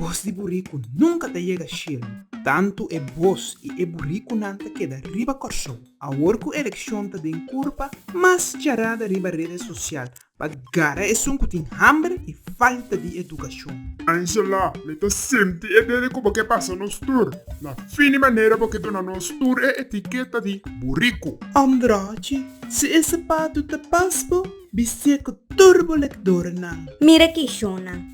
Bos di buriku nunka ta yega shelu, tantu e bos i e burikunan ta keda riba Kòrsou. Awor ku elekshon ta den kurpa mas charada riba rede sosial, Pa gara esun ku tin hamber i falta di edukashon. Angela, Mi ta sinti e dede ku bo ke pasa nos tur. Na fin di manera bo ke duna nos tur e etiketa di buriku. Ombrochi, Si e sapatu ta pas bo, bistie ku tur bo lekdornan. Mira kishonnan.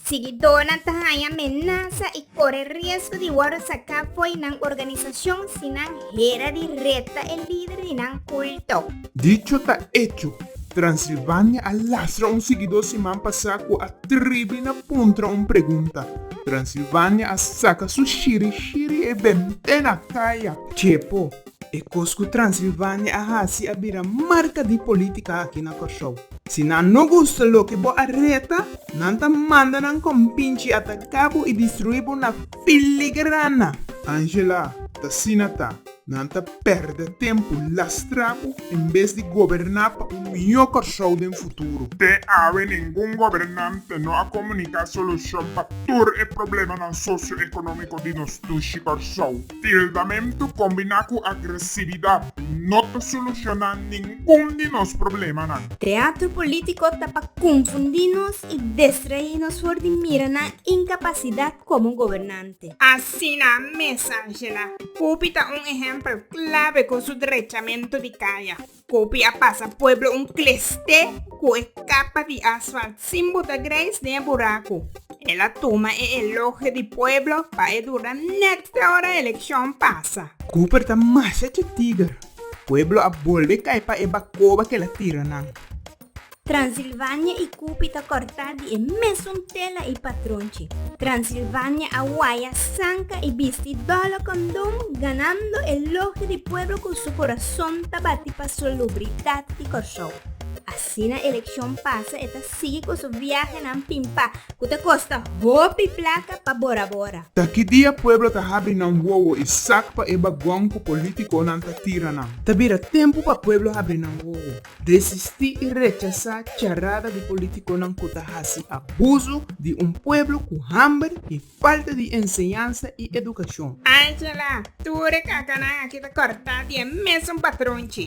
Siguidónan ta haña menasa i kore riesgo di wòrdu saká fo'i nan organisashon si nan hera di reta e lider di nan kulto. Dicho ta echo, Transilvania a lastra un siguidó siman pasá ku a tribi na puntra un pregunta. Transilvania a saka su shiri shiri e bembé na kaya. Chepo, E kos ku Transilvania a hasi a bira marka di polítika aki na Kòrsou. Si nan no gusta loke bo a reta, nan ta manda nan kòmpinchi ataká bo i destruí bo na filigrana. Angela, T'asina ta. Nan ta pèrdè tempu lastrá bo en bes di goberná pa un mihó Kòrsou den futuro. Te awe ningun gobernante no a komuniká solushon pa tur e problemanan sosioekonómiko di nos dushi Kòrsou. Tildamentu kombiná ku agresividat no ta solushoná ningun di nos problemanan. Teatro polítiko ta pa konfundí nos i destraí nos for di mira nan inkapasidat komo gobernante. Asina mes Ángela, Pupi ta un ehèmpel klave ku su drechamentu di kaya. Kopi a pasa pueblo un klest'é ku e kapa di asfalt sin bota greis den e buraku. El a tuma e elogio di pueblo pa e dura nèt te ora elekshon pasa. Cooper ta masha chi tiger. Pueblo a bolbe kai pa e bakoba kela tira nan. Transilvania i Kupi ta kòrtá di e mesun tela i patron chi. Transilvania a waya, sanka i bisti dòlo kondon, ganando elogio di pueblo ku su kurason ta bati pa solubridat di Kòrsou. Asina elekshon pasa e ta sigui ku su viahenan pimpá ku ta kosta hopi plaka pa bora bora. Ta ki dia pueblo ta habri nan wowo i sak pa e bagon ku politikonan ta tira nan. Ta bira tempu pa pueblo habri nan wowo. Desistí i rechasá charada di polítikonan ku ta hasi abuso di un pueblo ku hamber i falta di enseñansa i edukashon. Angela, Tur e kakanan aki ta kòrtá di e mesun patron chi.